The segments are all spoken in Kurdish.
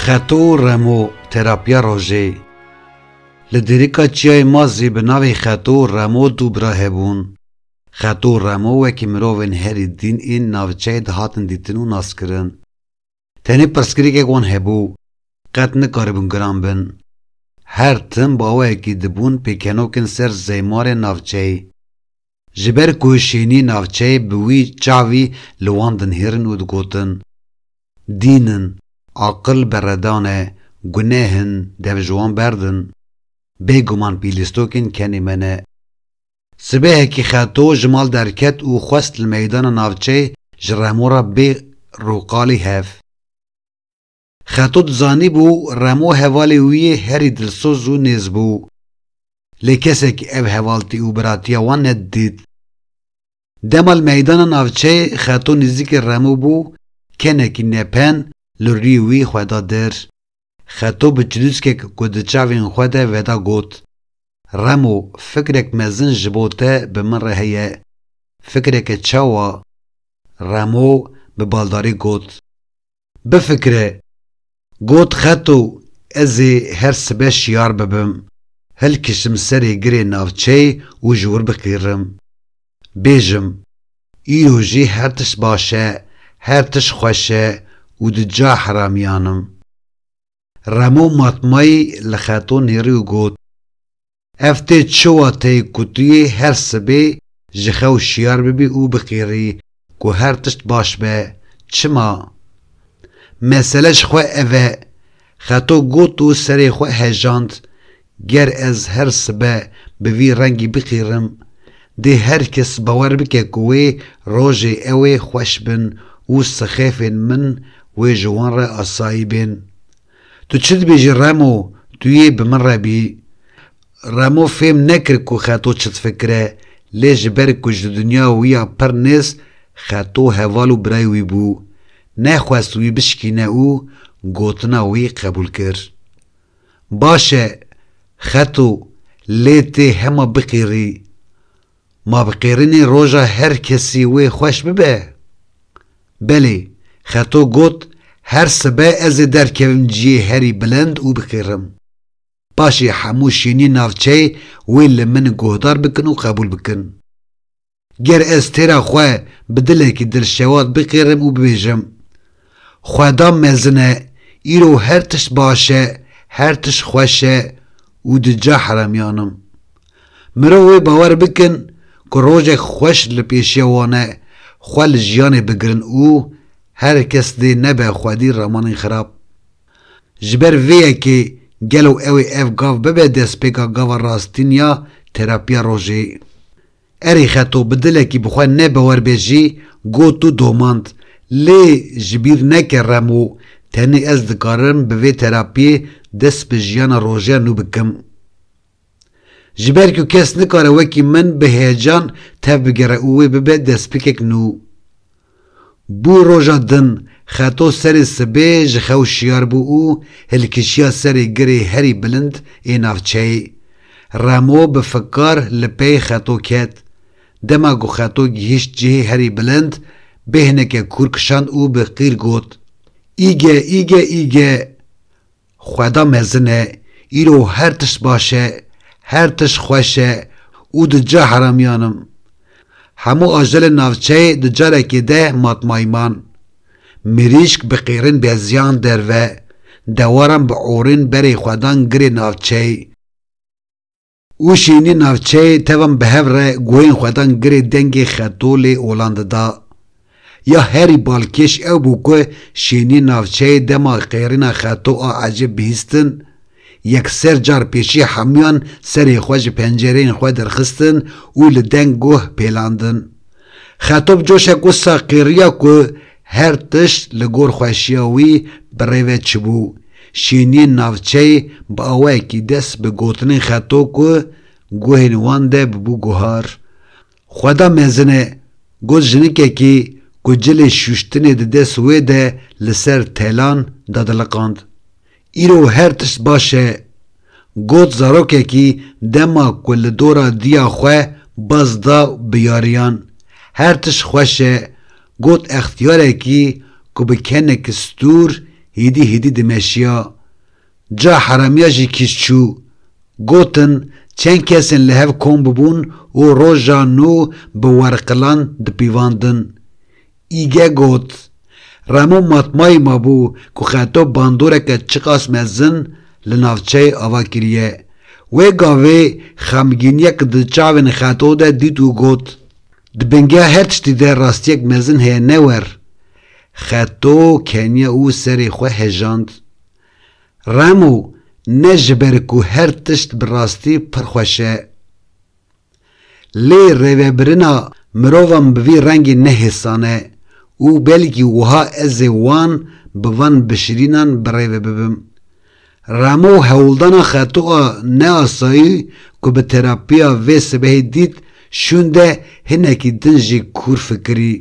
Xeto û remo terapiya rojê Li dêrika çiyayê ma zî bi navê xeto û remo du bira hebûn. Xeto û remo wekî mirovên herî dîn ên navçeyê dihatin dîtin û naskirin. Tenê pirsgirêkek wan hebû, qet nikaribûn giran bin. Her tim baweyekî dibûn pêkenokin ser zeymarê navçeyê. Ji ber ku şênî navçeyê bi wî çavî li wan dinihêrin û digotin, Dîn in, aqil berredan e, guneh in, dev ji wan berdin. Bêguman pîlîstokên kenê me ne. Sibehekî Xeto ji mal derket û xwest li meydana navçeyê ji Remo re bê rûqalî hev. Xeto dizanîbû Remo hevalê wî yê herî dilsoz û nêz bû. Lê kesekî ev hevaltî û biratiya wan nedidît. Dema li meydana navçeyê Xeto nîzîkê Remo bû, kenekî nepen li rûyê wî xwe da dir. Xeto bi çilûskek ku di çavên xwe de veda got, Remo, fikrek mezin ji bo te bi min re heye. Fikreke çawa? Remo bi baldarî got, Bifikire! Got Xeto, Ez ê her sibe şiyar bibim, hilkişim serê girê navçeyê û ji wir biqîrim. bêjim, îro jî her tişt baş e, her tişt xweş e û di ca heramiyan im. Remo matmayî li xeto nêrî û got, Ev tê çi wateyê ku tu yê her sibê ji xew şiyar bibî û biqîrî ku her tişt baş be. Çima? Mesele ji xwe ev e. Xeto got û serê xwe hejand, Ger ez her sibe bi vî rengî biqîrim, dê her kes bawer bike ku wê rojê ew ê xweş bin û sixefên min wê ji wan re asayî bên. Tu çi dibêjî Remo, tu yê bi min re bî. Remo fêm nekir ku Xeto çi difikire, lê ji ber ku ji dinya wî ya pir nêz Xeto heval û birayê wî bû, nexwest wî bişikîne û gotina wî qebûl kir. Baş e, xeto lê tê hema biqîrî. Ma bi qîrînê roja her kesî wê xweş bibe? Belê, xeto got, her sibe ez ê derkevim ciyê herî bilind û biqîrim. Paşê hemû şîniyên navçeyê wê li min guhdar bikin û qebûl bikin. Ger ez têra xwe bi dilekî dilşewat biqêrim û bibêjim, Xweda mezin e, îro her tişt baş e, her tişt xweş e û di ca heremiyan im. Mirov wê bawer bikin ku rojek xweş li pêşiya wan e xwe li jiyanê bigirin û her kes dê nebe xwedî ramanên xirab. Ji ber vê yekê gelo ew ê ev gav bibe destpêka gava rastîn ya terapiya rojê. Erê xeto bi dilekî bi xwe ne bi wer bê jî got û domand, Lê ji bîr neke Remo, tenê ez dikarim bi vê terapiyê dest bi jiyana rojeya nû bikim. Ji ber ku kes nikare wekî min bi heyecan tev bigere û wê bibe destpikek nû. Bû roja din, xeto serê sibê ji xew şiyar bû û hilkişiya serê girê herî bilind ê navçeyê. Remo bi fikar li pey xeto ket. Dema ku xeto gihîşt cihê herî bilind, bêhneke kûr kişand û bi qîr got, Îge, îge, îge! Xweda mezin e, îro her tişt baş e, her tişt xweş e û di ca heramiyan im. Hemû ajelên navçeyê di carekê de matmayman. Mirîşk bi qêrin beziyan derve, dewaran bi orên berê xwedan girê navçeyê. Û şînî navçeyê tevan bi hev re guhên xwe dan girê dengê Xetolê Olandê da. Ya herî balkêş ew bû ku şînî navçeyê dema qêrîna Xeto a ecêb bihîstin, yekser car pêşî hemûyan serê xwe ji pencereyên xwe derxistin û li deng guh pêlandin. Xeto bi coşek wisa qêriya ku Her tişt li gor xweşiya wî bi rê ve çibû. Şîniyên navçeyê bi awayekî dest bi gotinên xeto ku guhên wan de bibû guhar. Xweda mezin e, got jinikekî ku cilê şûştinê di dest wê de li ser telan dadiliqand. Îro her tişt baş e. Got zarokekî dema ku li dora diya xwe baz da bi yariyan. Her tişt xweş e. Got extiyarekî ku bi kenekî stûr hîdî hîdî dimeşiya. Ca heramiya jî kîj çû. Gotin çend kesên li hev kom bibûn û roja nû bi werqilan dipîvandin. Îge got, Remo matmayî ma bû ku xeto bandoreke çiqas mezin li navçeyê ava kiriye. Wê gavê xemgîniyek di çavên xeto de dît û got, Di bingeha her tiştî de rastiyek mezin heye ne wer. Xeto keniye û serê xwe hejand. Remo, ne ji ber ku her tişt bi rastî pir xweş e. Lê rêvebirina mirovan bi vî rengî nehêsane û belkî wiha ez ê wan bi van bişirînan bi rêve bibim. Ramo hewldana xetoa neasayî ku bi terapiya vê sibehê dît şûnde hinekî din jî kûr fikirî.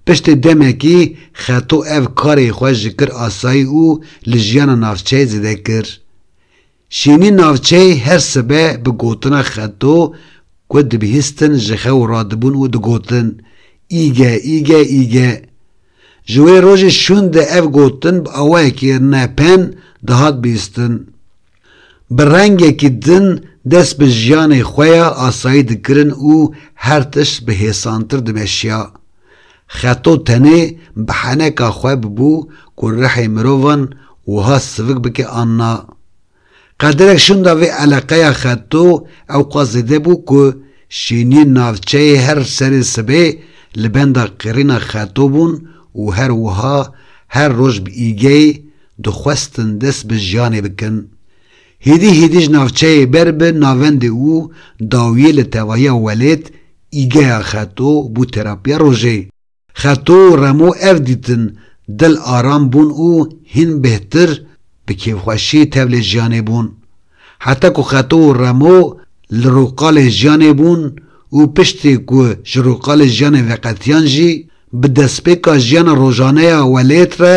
Piştê demekî xeto ev karê xwe ji kir asayî û li jiyana navçeyê zêde kir. Şînî navçeyê her sibe bi gotina xeto ku dibihîstin ji xew radibûn û digotin, Îge, îge, îge. Ji wê rojê şûn de ev gotin bi awayekî nepen dihat bihîstin. Bi rengekî din dest bi jiyanê xwe ya asayî dikirin û her tişt bi hêsantir dimeşiya. Xeto tenê bi heneka xwe bibû ku rihê mirovan wiha sivik bike an na. Qadirek şûnda vê eleqeya xeto ew qas zêde bû ku şêniyên navçeyê her serê sibê li benda qirîna xeto bûn û her wiha her roj bi îgeyê dixwestin dest bi jiyanê bikin. Hêdî hêdî ji navçeyê ber bi navendê û dawiyê li tevahiya welêt Îgeya Xeto bû terapiya rojê. Xeto û Remo ev dîtin dil aram bûn û hîn bêhtir bi kêfxweşî tevlê jiyanê bûn. Heta ku Xeto û Remo li rûqalê jiyanê bûn û piştî ku ji rûqalê jiyanê veqetiyan jî bi destpêka jiyana rojaneya welêt re